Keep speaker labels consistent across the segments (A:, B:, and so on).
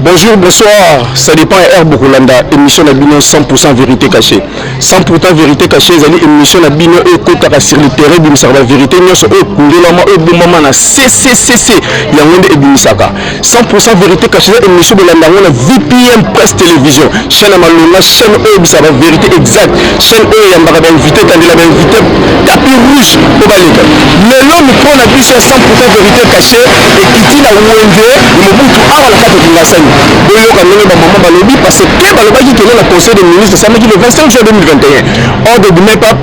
A: Bonjour, bonsoir. Ça dépend de Air Bokolanda, émission la Bino 100% vérité cachée. 100% vérité cachée, c'est émission la Bino et Kotaka sur le terrain, Bimsaka vérité, nous sommes au Kundela, au Boumama, CCCC, Yangonde et Bimisaka. 100% vérité caché na émission bolanda yango na vpm presse télévision chaîne ya malonga chaîne oyo ebisa ba vérité exact chaîne oyo eyambaka bainvité etandela bainvité tapi rouge mpo baleka lelo mikro na biso ya 100% vérité caché ekiti na wenze ya mobutu awa na kati kingasani boyoka ndenge bamama balobi parce que balobaki kende na conseil de ministre esamaki le 25 juin 2021 ordre du mepap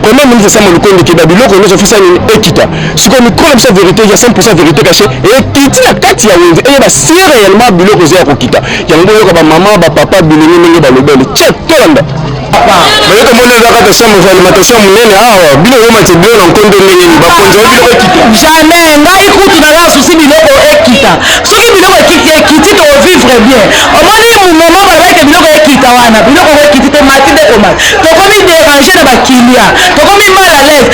A: premier ministre sama lukonde keba biloko nyonso fisa nini ekita sikoyo mikolo biso verité ya 100% verité caché ekiti na kati ya wenze eyeba si réellement biloko eza ya kokita yango boyoka bamama bapapa bilenge ndenge balobeli ce tolanda baye tomoni eza kaka chambre ya alimentation monene awa bino bomati bino na nkondo ndenge nini bakonzi oyo biloko ekita jamais ngai
B: kutu naza na susi biloko ekita soki biloko ekiti ekiti tovivre bien omoni mumoma balobaki biloko ekita wana biloko ekiti tomati nde komati tokomi dérange na bakilia tokomi mal à l'aise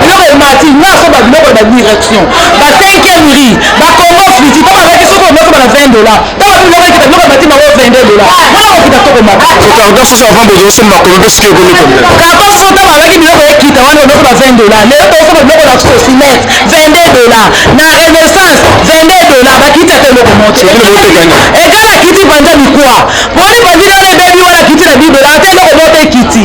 B: biloko emati nga so ba biloko ya ba direction ba 5e riz ba congo friti to bazaki soki omaki bana 20 dollars to ba biloko ekita biloko emati bango 22 dollars wana okita to komata carton soso avant
A: bozo somba komi pe soki ekomi combien carton soso to
B: bazaki biloko ekita wana omaki ba 20 dollars lelo tokosomba biloko na sosinete 22 dollars na renaissance 22 dollars bakiti ata eloko moto ekala kiti panza mikwa poni panzi lelo ebebi wana kiti na 10 dollars ata eloko moto ekiti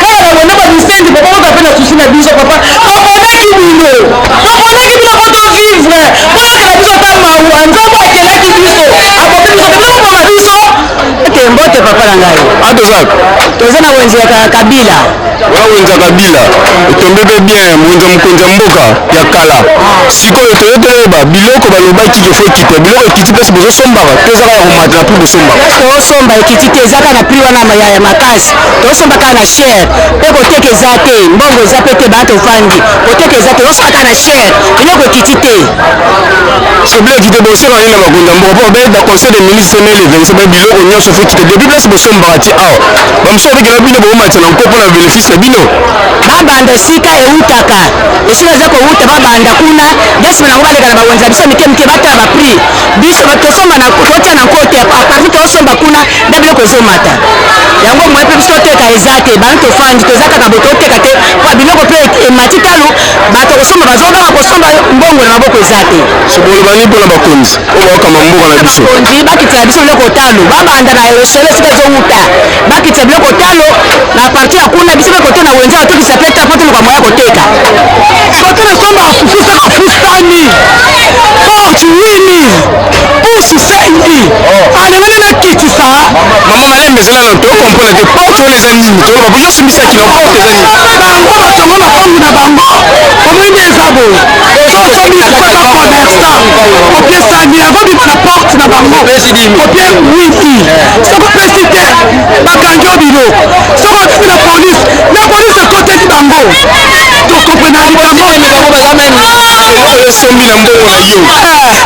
B: kaka na lona ba misenzi papa oza pe na susi na biso papa toponaki bino toponaki bino po to vivre boyokela biso ata mawa nzambe akelaki biso aboki biso te tokoma na biso te mbote papa na ngai atozaka
A: toza na wenze
B: ya kabila wana wenze ya
A: kabila etombe pe bien wenze ya mokonzi ya mboka ya kala sikoyo toye toyeba biloko balobaki kefo ekita biloko ekiti mpesi bozosombaka to ezaka ya komata na prix bosombaka tosomba ekiti
B: te ezaka na prix wana ya makasi tosomba kaka na shere mpe koteka eza te mbongo eza mpe te bana tofandi koteka eza te tosomba kaka na shere biloko ekiti te
A: soble ekite bosomba nini na bakonzi ya mboka mpo baye na conseil de ministre mai le 25 mai biloko nyonso fo ekite depuis place bosombaka ti awa bamosusu babikela bino bokomatisa na nko mpo na bénéfice na bino babanda
B: esika ewutaka esika eza kowuta babanda kuna desima nango baleka na bawenza biso mike mike batala baprix biso tosomba na kotia na nko te apartir tosomba kuna nde biloko ezomata yango moye mpe biso toteka eza te bana tofandi toza kaka bo toteka te mpo biloko mpe emati talo bato kosomba bazo kaka kosomba mbongo na maboko eza te sokoloba nini mpo na
A: bakonzi oyo bakama mboka na biso bakonzi bakitisa biso biloko
B: talo babanda na esolo esika ezowuta bakitisa biloko talo na parti ya kuna biso mpe kote na wenze batokisa mpe talo mpo toluka moya koteka kote
C: na somba fufu saka fustani fortune pusu sai oh. alengani ah, nakitisa mama malembe
A: ezala na to comprendre te porte wana eza nini to babuki osimbisa kilo porte eza nini bango batongo
C: makambu na bango omoni nde eza boye sokomisaka commerçant opesani akobima na porte na bango kopie wiki sokopesi te bakangi yo bilo sokofi na polise na polise ekoteli bango tokomprenaki bango bazamene oyo esombi
A: na mbongo na yo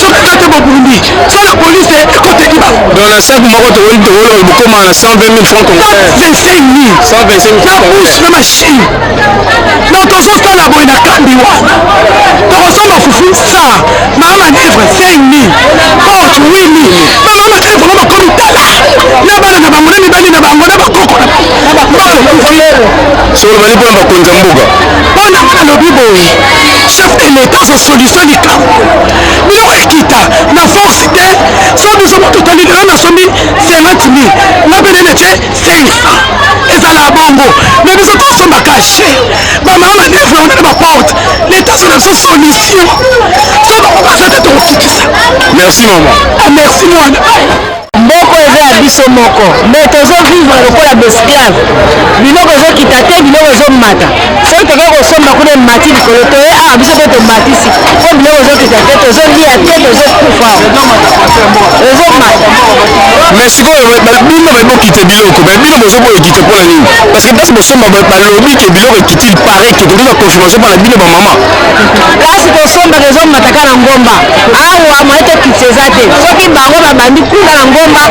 A: soki eza te bobundi so la police ekoteki ba donc na sac moko tokoki tokoki bokoma na 120 000 francs congolais
C: 25 000 125 na bouche na machine donc tozosala boye na kambi wana tokosomba fufu sa mama manevre 5 000 porte 8 000 bamama makala bango bakomi tala na bana na bango na mibali na bango na bakoko na bango
A: solo bani mpona bakonzi ya mboka mpona nalobi
C: boye chef de l'etat aza solution likambo biloko ekita na force te so biso totali lelo nasombi 50 mil nga mpe nene ce 500 ezala bongo me biso tosomba kashe bamama manevre wana na baporte leta azala biso solution so bango baza te tokokitisa merci mama
A: ah, merci mwana
C: Mboka oyo
B: eza ya biso moko mais tozo vivre lokola ba esclaves. Biloko ezo kita te, biloko ezo mata. Soki toke ko somba kuna emati likolo toye awa biso pe tomatisi po biloko ezo kita te, tozo lia te, tozo kufa. Ezo mata.
A: Mais sikoyo bino baye bo kite biloko mais bino bozo boye kite pona nini? Parce que place bo somba ba lobi ke biloko ekiti il parait ke tozo zwa confirmation pona bino ba maman. Place
B: to sombaka ezo mata ka na ngomba. awa moye tokitisa eza te soki bango babandi kuna na ngomba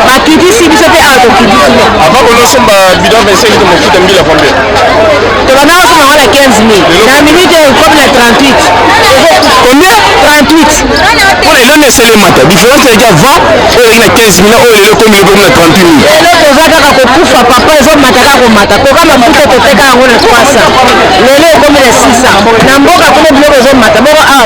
B: bakitisi biso mpe awa tokitisi avant konosomba
A: bidon 25 to mofuta mbila combien tobanda
B: kosomba yango na 15 mil na minute ekomi na 38 combien
A: 38
B: mpo na eloni
A: eselemata différence eleki avant oyo eleki na 15 mil oyo lelo ekomi ekomi na 38 mil lelo toza kaka
B: kokufa papa ezomata kaka komata toka mafuta toteka yango na 300 lelo ekomi na 600 na mboka kuna biloko ezomata boko awa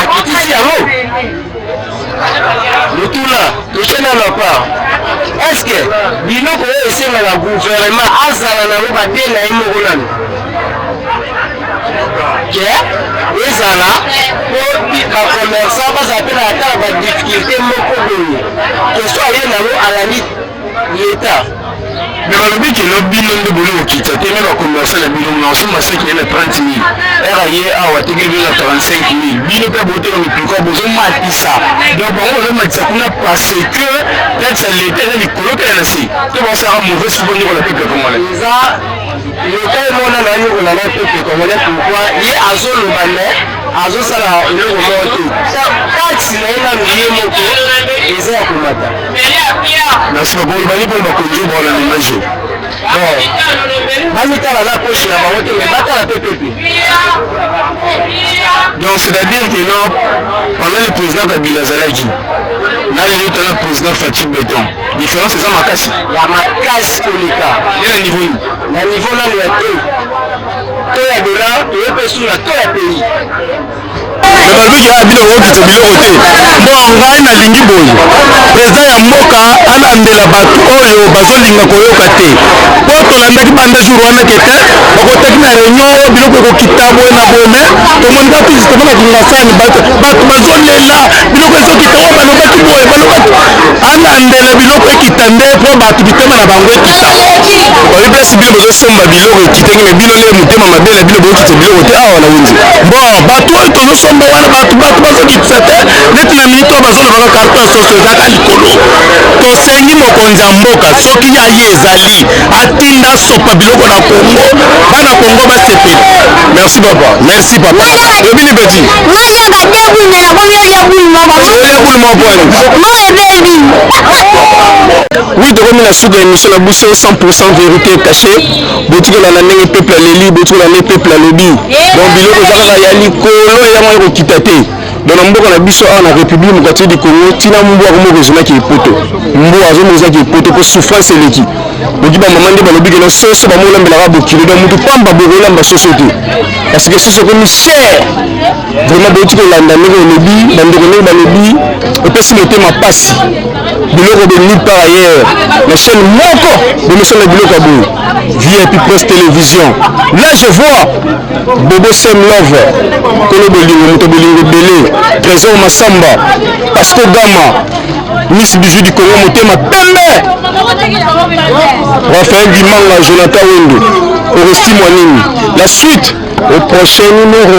A: akitisi yango motuna question na ma part est ce que biloko oyo esengaka gouvernement azala nango bate na ye moko nano ke ezala po bacommerçant bazala mpe na ata na badifficulté moko boye question aye nango alandi leta me balobi kelo bino nde boli kokita te me bakomersa na bino masoma seki na 30 mil era ye awa atekeli bino na 35 mil bino mpe boteka mipiko bozomatisa donc bango bazomatisa kuna parce que taxe ya leta eza likolo mpe na se to basaka mauvaise po nyokola peuple congolais eza leta emona na nyokola na peuple congolais pourquoi ye azoloba me azosala eloko moko te taxe na ye nanu ye moko eza ya komata Merci beaucoup. Ibali pour ma conduite dans le ménage. bamitala na poche na bango te me batala mpe pepe donc c'est-à-dire que non pendant le président kabila azalaki na lelo tala président fatim beton différence eza makasi ya makasi koleka ye na niveau nini na niveau nano ya te to ya dola toye mpe suna to ya pays bazoki ya bino bokokita biloko te mpo ngai nalingi boye preza ya mboka alandela bato oyo bazolinga koyoka te mpo tolandaki banda jour wana kete bakotaki na réunion oyo biloko ekokita boye na boye me tomoni bato justement na kingasani bato bazolela biloko ezokita oyo balobaki boye balobaki alandela biloko ekita nde mpo bato mitema na bango ekita babi place bino bozosomba biloko ekitaki me bino nde motema mabe na bino bokokita biloko te awa na wenze bon bato oyo tozosomba wana bato bato bazokitisa te neti na minute oyo bazolobaka carton soso ezalaka likolo tosengi mokonzi ya mboka soki ya ye ezali atinda sopa biloko na kongo bana kongo basepeli merci papa merci papa lobi libeti oui tokomi na suka ya émission na biso 100 vérité caché botikala na ndenge peuple aleli botikala nde peuple alobi donc biloko eza kaka ya likolo yango ekokita te donc na mboka na biso awa na république mokati du congo ntina mbwa yango moko ezonaki epoto mbwa azomonizaki epoto mpo souffrance eleki boki bamama nde balobi kena soso bamolambelaka bokilo donc motu pamba bokolamba soso te parce que soso ekomi cher vraiment bouti kolanda ndenge olobi bandeko ndenge balobi epesi motema mpasi biloko de nulle part ailleurs na chaîne moko bomesana biloko ya boye vip presse télévision là je vois bobo sem love kolo bolingo moto bolingo ebele trésor masamba pasco gama miss bijou du congo motema pembe rafael dimanga jonathan wendo oresti mwa nini la suite au prochain numéro